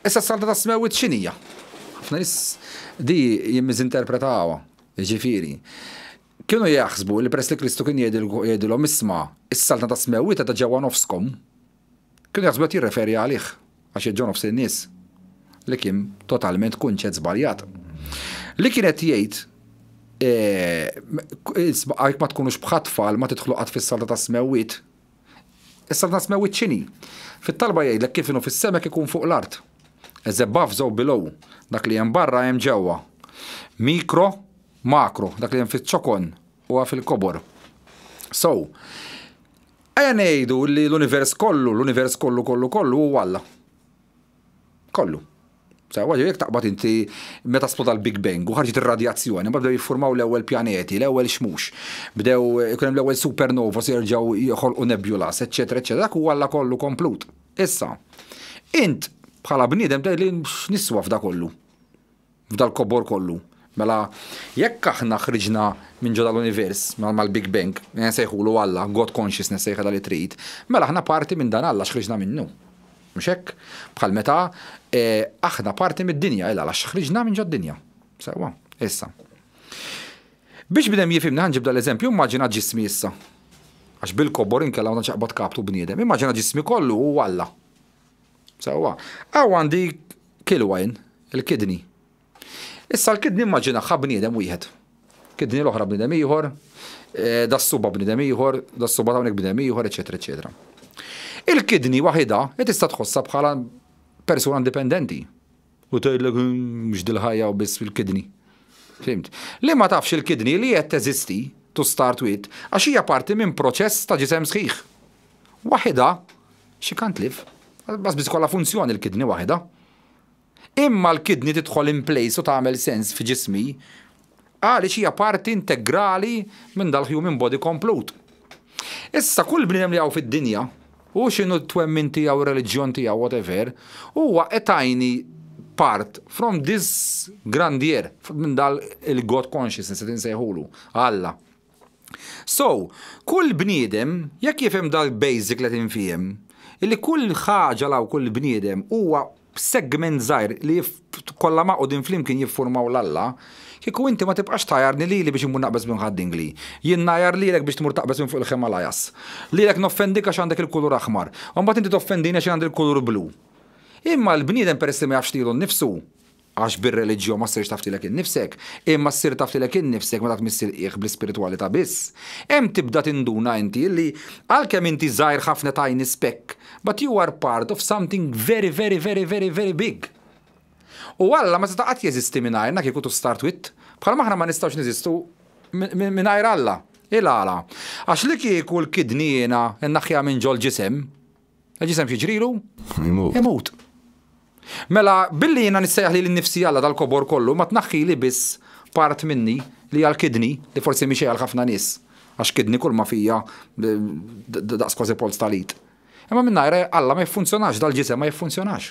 Issa s-Saltna tas-Smewwiet x'inhi hija? Ħafna nies di jimmiżinterpretawha, jiġifieri, kienu jaħsbu li peress li Kristu kien jgħidilhom isma' s-Saltna tas-Smewwiet qiegħda ġewwa nofskom, kienu jaħsbu qed jirreferi għalih għax qiegħed ġewwa nofs in-nies, li kien totalment kunċett żbaljat. Li kien qed jgħid jekk ma tkunux bħat-tfal ma tidħlu qatt fis-Saltna tas-Smewwiet, Issa nasmew iċ-ċini. Fit-talba jgħidlek kif inhu fis-sema hekk ikun fuq l-art. As above so below, dak li hemm barra hemm ġewwa. Mikro, makro, dak li hemm fiċ-ċokon huwa fil-kobor. So, ejja ngħidu li l-univers kollu, l-univers kollu kollu kollu huwa Alla. Kollu. Sewwa, ġifieri jekk taqbad inti meta sploda l-Big Bang u ħarġet ir-radjazzjoni, mbagħad bdew jiffurmaw l-ewwel pjaneti, l-ewwel xmux, bdew ikun hemm l-ewwel supernovas jerġgħu joħolqu nebjulas, eċċetera, eċċetera, dak huwa Alla kollu komplut. Issa, int bħala bniedem tgħidli x'niswa f'dak kollu? F'dal-kobor kollu, mela, jekk aħna ħriġna minn ġo dal-univers, mal-Big Bang, li nsejħulu Alla, God Consciousness sejħilha li trid, mela aħna parti minn dan Alla għax ħriġna minnu. Mhux hekk? Bħal meta aħna parti mid-dinja, illa għax ħriġna minn ġod-dinja. Sewwa. Issa. Biex bnedem jifhimni ħa nġib dal-eżempju, immaġina ġismi issa. Għax bil-kobor inkella ma tantx aqbad kaptu bniedem. Immaġina ġismi kollu hu Alla. Sewwa. Hawn għandi kilwajn, il-kidney. Issa l-kidney immaġinaħħa bniedem wieħed. Kidney l-oħra bniedem ieħor, eh, das-suba bniedem ieħor, das-suba ta' hawnhekk bniedem ieħor, eċetera, eċetera. Il-kidney waħidha tista' tħossha bħala persuna indipendenti. U tgħidlek mhux dil-ħajja u biss fil-kidney. Fimt? Li ma tafx il-kidney li qed teżisti, to start with, għax hija parti minn proċess ta' ġisem sħiħ. Waħidha, she can't live. Bas biss kollha funzjoni l-kidney waħidha. Imma l-kidney tidħol in place u tagħmel sens f'ġismi Għaliex hija parti integrali minn dal-human body komplut. Issa, kull bniedem li hawn fid-dinja, hu x'inhu t-twemmin tiegħu, ir-reliġjon tiegħu, whatever, huwa a tiny part from this grandier, minn dal-God consciousness qed insejħulu, Alla. So, kull bniedem, jekk jifhem dal-basic li qed infiehem, illi kull ħaġa law kull bniedem huwa segment żgħir li kollha magħqudin flimkien jiffurmaw l-Alla, kieku inti ma tibqax tgħajjarni lili biex immur naqbeż minn ħad-dingli. Jien ngħajjar lilek biex tmur taqbeż minn fuq il-Himalayas. Lilek noffendik għax għandek il-kulur aħmar. U mbagħad inti toffendini għax jien għandi l-kulur blu. Imma l-bniedem peress li ma jafx lilu nnifsu, Għax bir-reliġjon ma ssirx taf lilek innifsek, imma ssir taf lilek innifsek meta tmiss il-qiegħ bl-ispiritwalità biss. Hemm tibda tinduna inti illi għalkemm inti żgħir ħafna tiny speck, but you are part of something very very very very very big. U Alla ma seta' qatt jeżisti mingħajrna kieku to start with, bħalma aħna ma nistgħux neżistu mingħajr Alla. Il-għala? Għax li kieku l-kidniena nnaħħiha minn ġol-ġisem, L-ġisem xieġrilu? Imut. Imut. Mela, billi jina nissejħ li l-nifsi għalla tal-kobor kollu, ma tnaħħi li biss part minni li għal-kidni, li forsi miexej għal-ħafna nis, għax kidni kull ma fija daqs kważi polz tal-id. Imma minna għalla ma jiffunzjonax, dal-ġisem ma jiffunzjonax.